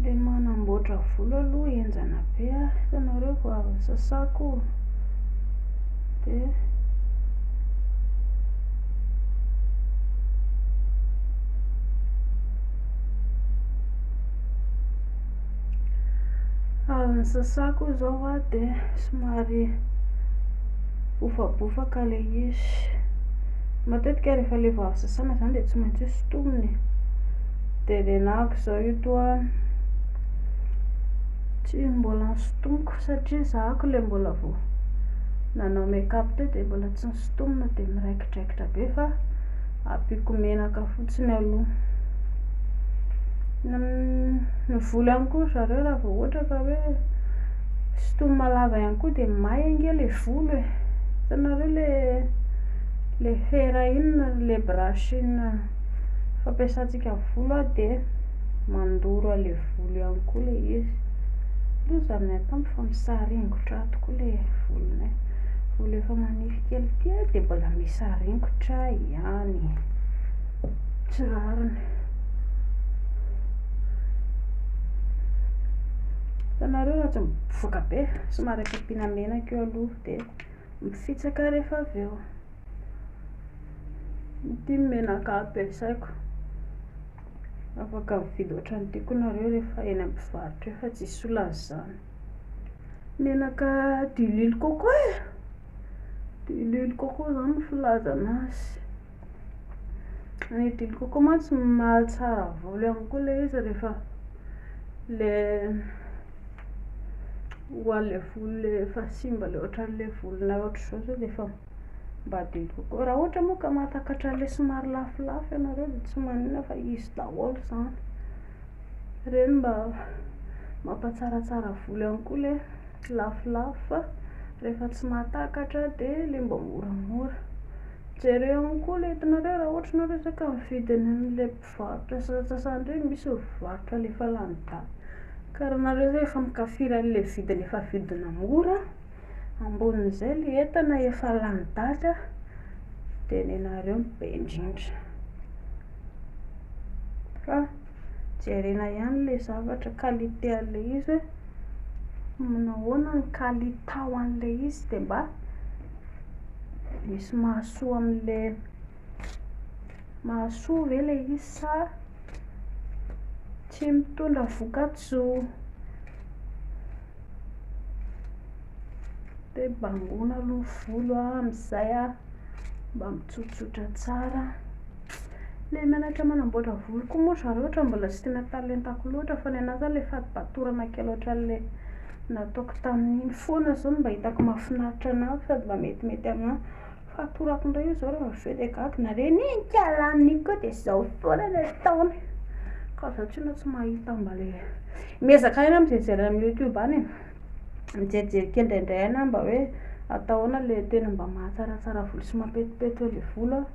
Le manamboatra volo aloha henjana be ah hitanareo vao avy sasako de avy sasako zao ah de somary bofabofaka le izy Matetika rehefa le vao avy sasana izany dia tsy maintsy hosintomina e. Dia renako izao io toa tsy mbola nosintomiko satria zahako le mbola vao nanao make-up teo dia mbola tsy nosintomina dia miraikidraikitra be fa ampiako menaka fotsiny aloha. Ny volo ihany koa ry zareo raha vao ohatra ka hoe Sitoma lava ihany koa dia may ange le volo e! Hitanareo le le fera iny le brush iny fampiasantsika volo a dia mandoro an'le volo ihany koa le izy. Loza ny ahy tamy fa misaringotra ato koa le volonay. Volo efa manify kely ity a dia mbola misaringotra ihany. Tsy rariny. Hitanareo raha tsy mivoaka be, somary ampiana menaka eo aloha dia mifitsaka rehefa avy eo. Ity ny menaka ampiasaiko. Afaka mividy ohatran'ny tiako nareo rehefa eny amin'ny mpivarotra eo fa tsy hisy olana izany. Menaka diluile coco e, diluile coco izany no filazana azy. Ny dilo coco mantsy mahatsara volo ihany koa ilay izy rehefa ilay ho an'ilay volo ilay efa simba ilay ohatran'ilay volonao ohatr'izao sao dia efa mba dilo coco. Raha ohatra moa ka mahatakatra an'ilay somary lafolafo ianareo dia tsy maninona fa izy daholo izany. Ireny mba mampatsaratsara volo ihany koa ilay lafolafo fa rehefa tsy mahatakatra dia ilay mba moramora. Jereo ihany koa le itanareo raha ohatra ianao resaka mividy any amle mpivarotra sasantsasany reny misy mivarotra le efa lany daty ka raha nareo zay efa mikafiry anle vidiny efa vidina mora ambonin'izay le entana efa lany daty a de nenareo no be indrindra fa jerena ihany le zavatra qualité anle izy hoe manahoana ny kalitao anle izy de mba Misy mahasoa amin'le mahasoa ve le izy sa tsy mitondra vokatsoa? Dia bangoina aloha ny volo amin'izay a, mba mitsotsotra tsara. Le mianatra manamboatra volo koa moa zareo ohatra mbola tsy tena talentako loatra fa ny anà zany le fatipatorana kely ohatran'le. Nataoko tamin'iny foana zao no mba hitako mahafinaritra anah sady mba metimety aminah. Fatorako indray io zao raha avy eo dia gaga na re ny kalaniny iny koa dia zao foana ny ataony ka za tsy inona tsy mahita mba le miezaka ihany amin'ny mijery amin'ny youtube any e, mijerijery kely indraindray ihany aho mba hoe atao ahoana le tena mba mahatsaratsara volo sy mampetipety eo le volo an,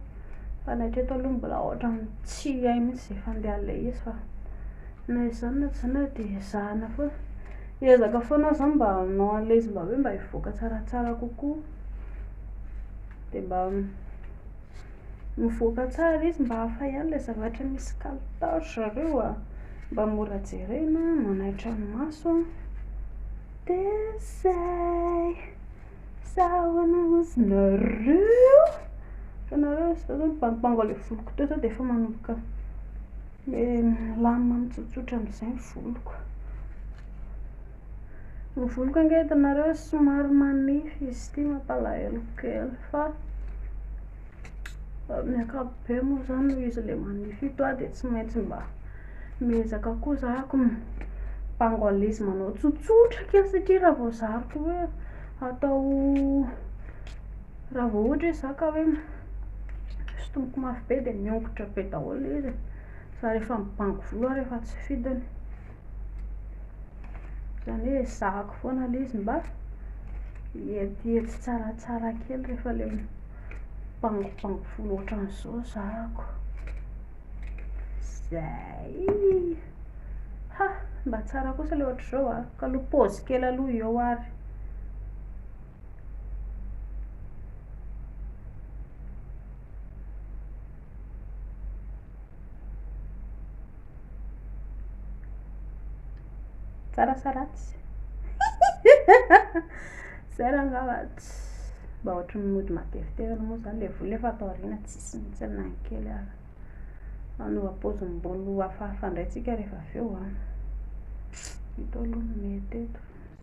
fa ny hatreto aloha mbola ohatran'ny tsy hay mihintsy izay fandehan'ilay izy fa Na izany na tsy izany ary dia ezahana foana, hiezaka foana aho izany mba hanao an'ilay izy mba hoe mba hivoaka tsaratsara kokoa, dia mba mivoaka tsara izy mba hafa ihany ilay zavatra misy kalitao ry zareo a, mba mora jerena, manaitra ny maso, dia izay, asa ahoana ozy nareo, fa nareo sao zao nibangobango ilay voloko teo sao dia efa manomboka. Dia milamina mitsotsotra amin'izay ny voloko. Ny voloko ange hitanareo somary manify izy ity mampalahelo kely fa amin'ny ankapobeny moa izany noho izy ilay manify ito aho dia tsy maintsy mba miezaka koa za ko mibango à l'aise manao tsotsotra kely satria raha vao zariko hoe atao Raha vao ohatra hoe za ka hoe sintomiko mafy be dia miongotra be daholo ilay izy e, za rehefa mibango volo aho rehefa tsy fidiny, izany hoe ezahako foana ilay izy mba hietihety tsaratsara kely rehefa ilay mibangobango volo ohatran'izao zahako, zay, ha, mba tsara kosa ilay ohatr'izao an, ka aleo pause kely aloha eo ary tsara sa ratsy zay raha angamba mba ohatry ny mody matevitevy moa zany le vola efa ato aoriana tsisy mihitsy na ny kely ary manova paozim-bolo hafahafa indray tsika rehefa avy eo an ah. ito aloha no mety eto